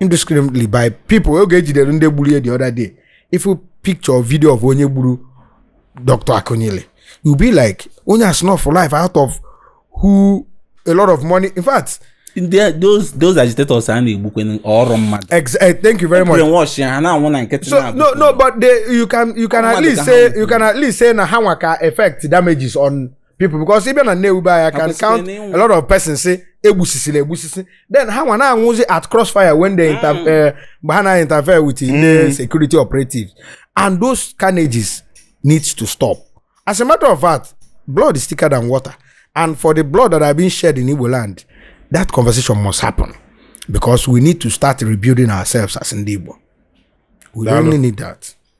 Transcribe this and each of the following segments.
indiscriminately by people oge ejidere ndị gburu ya the other day ị fụ picture or video of onye gburu dr akunyili you be like onye a snuffụ life out of who a lot of money in fact Ndị- those those agitators a na-egbukwe ọrụ mmadụ ex eh, thank you very much brainwash ya ha na-anwụ na nkịtị so no no but they, you can you can at Ọnwa least dịka ha say nwụrụ. you can at least say na ha nwa ka effect damages on people because ịbịa na Nnewi be anyị can count a lot of persons say egbusisiri egbusisi then ha nwa na-anwụzi at crossfire when they inter mm. eh, mgbe ha na-interfere with mm. the security operatives and those carnages needs to stop as a matter of fact blood is thicker than water and for the blood that have been shed in Igbo land that conversation must happen because we need to start rebuilding ourselves as Ndi Igbo we really need that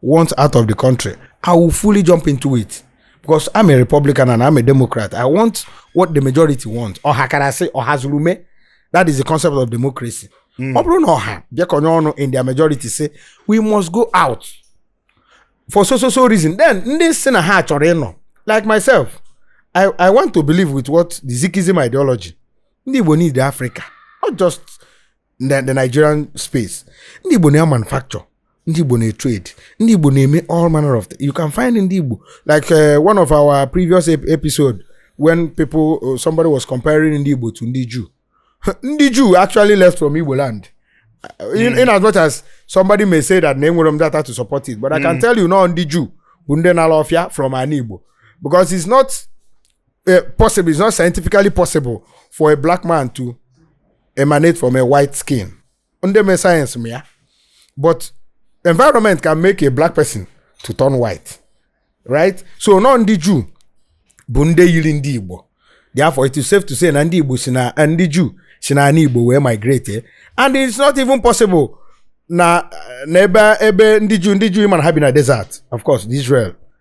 want out of the country, I will fully jump into it. Because I'm a Republican and I'm a Democrat. I want what the majority want. Ọhakarasị Ọhazurume. That is the concept of democracy. Hmm. Ọ bụrụ na ọha bịakọnye ọnụ in their majority say we must go out for so so so reason then ndị sị na ha chọrọ ịnọ like myself I, I want to believe with what the Zikism ideology ndị Igbo need Africa not just na the nigerian space ndị igbo na-emanufacture ndị igbo na-etrade ndị igbo na-eme all manner of things. you can find ndị igbo like uh, one of our previous ep- episode when people uh, somebody was comparing ndị igbo to ndị jew ndị jew actually left from igbo land Uh, in, in as much as somebody may say that na enwerọ m data to support it but i can tell you na ndị jew bụ ndị na-ala ọfịa from ana igbo because it's not uh, possible it's not scientifically possible for a black man to emanate from a white skin ndị mee sayensị ma ya but environment can make a black person to turn white right so na ndị juu bụ ndị yiri ndị igbo therefore it is safe to say na ndị igbo si na eh, ndị juu si na ala igbo wee migrate eh? and it's not even possible na na ebe ebe ndị juu ndị juu mana ha bi na desert of course the israel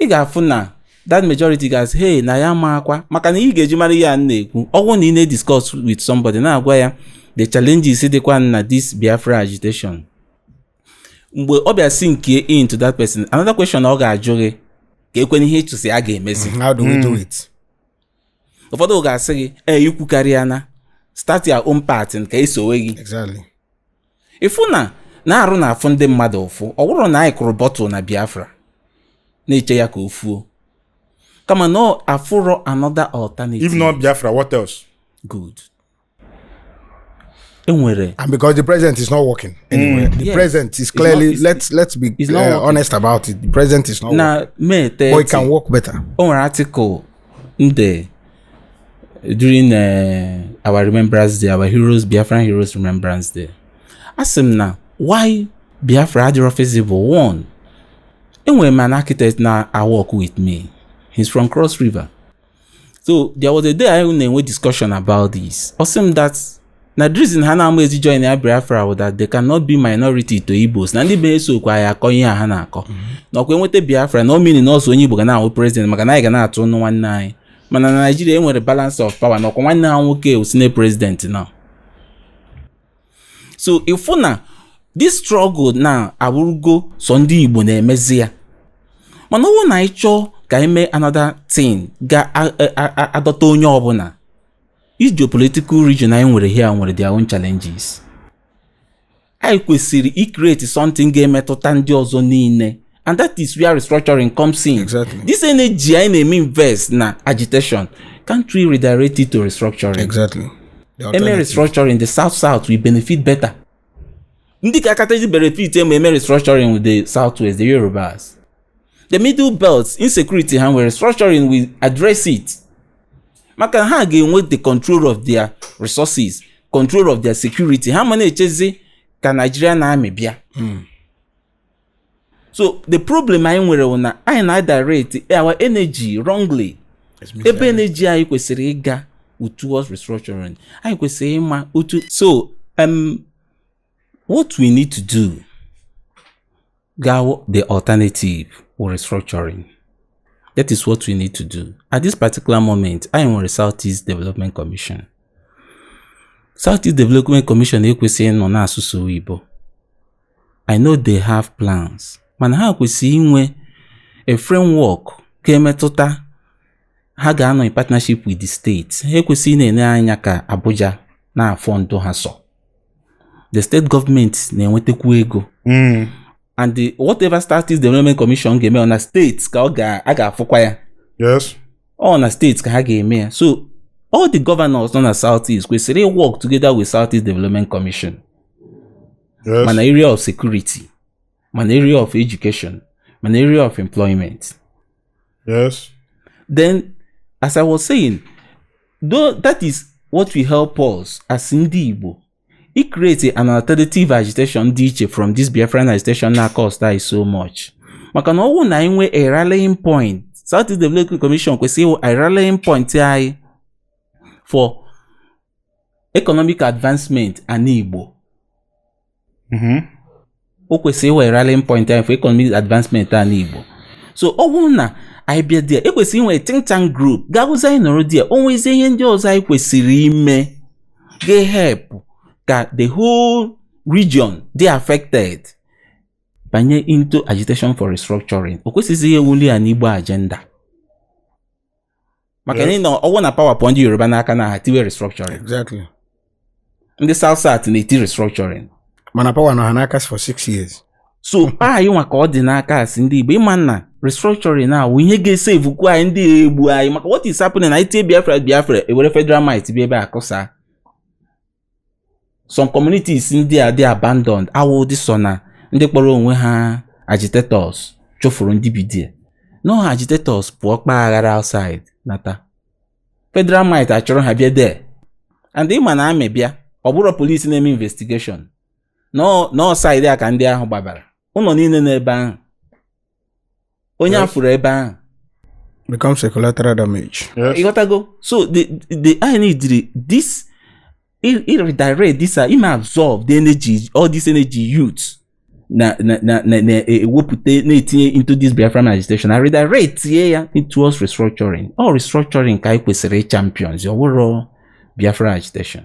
ị ga-afụ na that majority ga-asị hey na ya maakwa maka na ị ga-eji mara ihe a na-ekwu ọ wụ na ị na-ediscuss with somebody na-agwa ya the challenges dịkwa na this Biafra agitation mgbe ọ bịa sinkie into that person another question ọ ga-ajụ gị kee kwanụ ihe ị chọzị a ga-emezi mm, how do we do hmm. it ụfọdụ ga-asị gị ee i kwukarịana start your own pattern ka e sowe gị ịfụ na na-arụ na-afụ ndị mmadụ ụfụ ọ bụrọ na anyị kụrụ bọtụl na biafra na-eche ya ka o fuo kama na afụrọ another alternative if not biafra what else good enwere and because the president is not working mm. anyway mm, the yes. president is clearly not, let's let's be uh, honest about it the president is not na working. May 30, but he can work better o nwere article ndị during uh, our remembrance day our heroes biafran heroes remembrance day asị m na why biafra adịrọ feasible one enwere m an architect na-awork with me he's from cross river so there was a day anyị na-enwe discussion about this ọ sị m that na the reason ha na-ama ezi join ya biafra wụ that they cannot be minority to igbos na ndị be esokwa anyị akọ ihe a ha na-akọ na ọ kwa e nweta biafra na ọ mean na ọ sọ onye igbo ga na-awụ president maka na anyị ga na-atụ ọnụ nwanne anyị mana na naijiria e nwere balance of power na ọkwa nwanne ha nwoke wụzinụ president now so ịfụ na this struggle now abụrụgo sọ ndị igbo na-emezi ya mana ọwụ na anyị chọọ ka anyị mee another thing ga-adọta onye ọbụna each geopolitical region anyị nwere here nwere their own challenges anyị kwesịrị icreate something ga-emetụta ndị ọzọ niile and that is where restructuring comes in exactly. this energy anyị na-eme invest na agitation can't we redirect it to restructuring exactly. e mee restructuring the south south will benefit better ndị ga-akachazi benefit e mee e mee restructuring wụ the south west the yorubas the middle belt insecurity ha nwere restructuring will address it maka ha ga-enwe the control of their resources control of their security ha ama na-echezi ka Nigerian army bịa hmm. so the problem anyị nwere bụ na anyị na-adirect our energy wrongly ebe energy anyị kwesịrị ịga towards restructuring anyị kwesịrị ịma otu so um, What we need to do ga-awụ the alternative wụ restructuring. That is what we need to do. At this particular moment, anyị nwere Southeast Development Commission. Southeast Development Commission ekwesịghị nọ na-asụ sọ oyibo. I know they have plans, mana ha kwesịrị inwe a framework ga-emetụta ha ga-anọ in partnership with the state. Ha ekwesịghị na-ele anya ka Abuja na-afund ha so. the state government na-enwetakwu ego hmm. and whatever south east development commission ga-eme ọ na states ka a ga-afụkwa ya yes ọ na states ka ha ga-eme ya so all the governors nọ na south east kwesịrị ịwork together with south east development commission yes ma na area of security ma na area of education ma na area of employment Yes. Then, as I was saying, though that is what will help us as ndị Igbo icreate an alternative agitation dị iche from this Biafran agitation na-acost anyị so much maka na ọwụ na anyị nwee a rallying point South East Development Commission kwesịrị ịwụ a rallying point anyị for economic advancement ana Igbo mm-hmm. o kwesịrị ịwụ a rallying point anyị for economic advancement ana Igbo so ọ wụrụ na anyị bịa there e kwesịrị inwe think tank group ga-awụzi anyị nọrọ there o nwezie ihe ndị ọzọ anyị kwesịrị ime ga-ehelp ka the whole region dị affected banye into agitation for restructuring o kwesịghịzi ịwụ only an igbo agenda maka na ịnọ ọ wụ na power pụọ ndị yoruba n'aka na ha tiwe restructuring exactly ndị south south na-eti restructuring mana power nọ ha n'aka for six years so anyị nwa ka ọ dị n'aka as ndị igbo ịma na restructuring na ọ wụ ihe ga-esevukwu anyị ndị egbu anyị maka what is happening na itie biafra biafra e were federal might bịa ebe a kụsaa some communities ndị a dị abandoned awụdị sọ na ndị kpọrọ onwe ha agitators chụfụrụ ndị bi there no agitators pụọ kpaa aghara outside nata federal might achọrọ ha bịa there and ịma na army bịa ọ bụrọ police na-eme investigation na ọ side a ka ndị ahụ gbabara ụlọ niile nọ ebe ahụ onye a fụrụ ebe ahụ becomes a collateral damage. Yes. ịghọtago so the the anyị neediri this i- i- redirect this uh, ime absorb the energy all this energy youth na na na na na e- ewepụta na-etinye into this biafran agitation na redirectie ya towards restructuring ọ restructuring ka anyị kwesịrị champions ọ wụrọ biafran agitation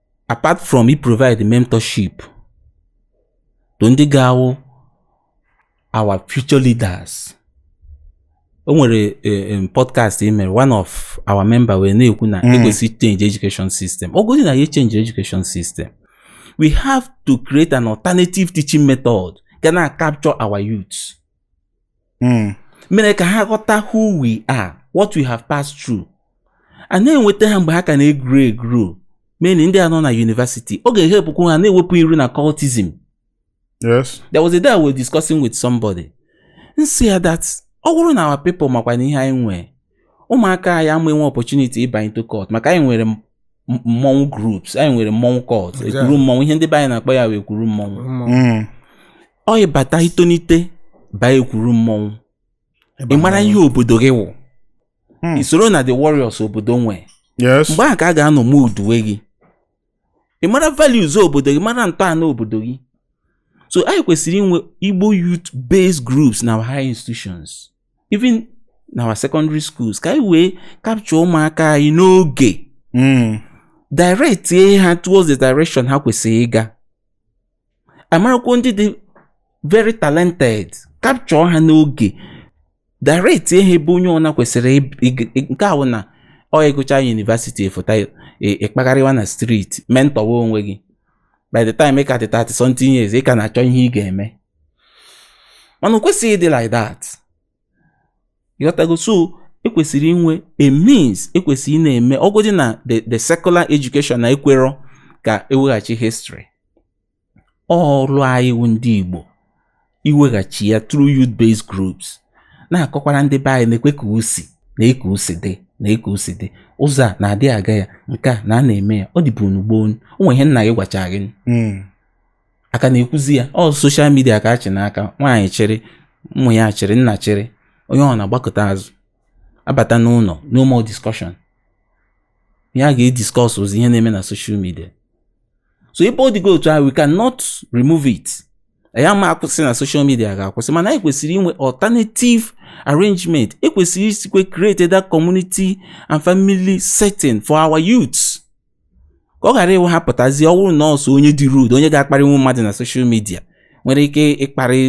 apart from i provide mentorship to ndị ga-awụ our future leaders o nwere eh, podcast e mere one of our member wee na-ekwu na hmm. e kwesị change education system ọ gozi na ya change education system we have to create an alternative teaching method ga na capture our youth hmm. mere ka ha ghọta who we are what we have passed through a na-enweta ha mgbe ha ka na-egro egro mainly ndị a nọ na university ọ ga-ehelpụkwu ha na-ewepụ iru na cultism yes there was a day I was discussing with somebody m sị ya that ọ bụrụ na our people makwanụ ihe anyị nwee ụmụaka anyị ama enwe opportunity ịba into cult maka anyị nwere mmọnwụ groups anyị nwere mmọnwụ cult ekwuru mmọnwụ ihe ndị be anyị na-akpọ ya wụ ekwuru mmọnwụ mm. ọ ị bata i tonite baa ekwuru mmọnwụ ị mara ihe obodo gị wụ hmm. i soro na the warriors obodo nwee mgbe ahụ ka a ga-anọ moulduwe gị ị mara values obodo gị mara ntọala obodo gị so anyị kwesịrị inwe igbo youth based groups na higher institutions even na our secondary schools ka anyị wee capture ụmụaka anyị n'oge hmm. directie ha towards the direction ha kwesịrị ịga a marakwuo ndị dị very talented capture ha n'oge directie ha ebe onye ọna kwesịrị nke a wụ na ọ ị gụcha university fụta ị kpagharịwa e, e na street mentọwa onwe gị by the time ị ka dị 30 something years ị ka na-achọ ihe ị ga-eme mana o kwesịghị ịdị like that ị ghọtago so e kwesịrị inwe a means e kwesịrị ịna-eme ọ godị na the the secular education na ekwerọ ka e weghachi history ọrụ anyị wụ ndị Igbo iweghachi ya through youth based groups na-akọkwara ndị be anyị nekwa ka o si nee ka o si dị nee ka o si dị ụzọ a na-adị aga ya nke a na a na-eme ya ọ dịbu na gboo o nwe ihe nna gị gwacha gị hmm. a ka na-ekwuzi ya ọ soshal midia ka a chị n'aka nwaanyị chịrị ụmụ ya chịrị nna chịrị onye ọbụna agbakụta azụ abata n'ụnọ no more discussion ihe a ga-ediskọsụzi ihe na-eme na soshal midia so ebe ọ dịgo otu ahụ we cannot remove it ya ma akwụsị na soshal midia ga-akwụsị mana anyị kwesịrị inwe alternative arrangement e kwesịrị isikwe create that community and family setting for our youths ka ọ ghara ịwụ ha pụtazie ọ bụrụ na ọ sọ onye dị rude onye ga-akparị nwa mmadụ na soshal midia nwere ike ịkparị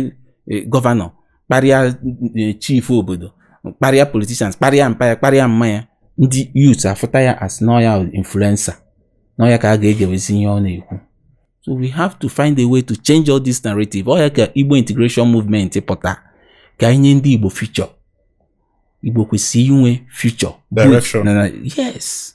e, gọvanọ kparịa e, chief obodo kparịa politishans kparịa mpa ya kparịa mma ya ndị yut afụta ya as na ọ ya influencer na ọ ya ka a ga-egewezi ihe ọ na-ekwu so we have to find a way to change all this narrative ọ ya ka igbo integration movement pụta ka anyị nye ndị igbo future igbo kwesịrị inwe future direction yes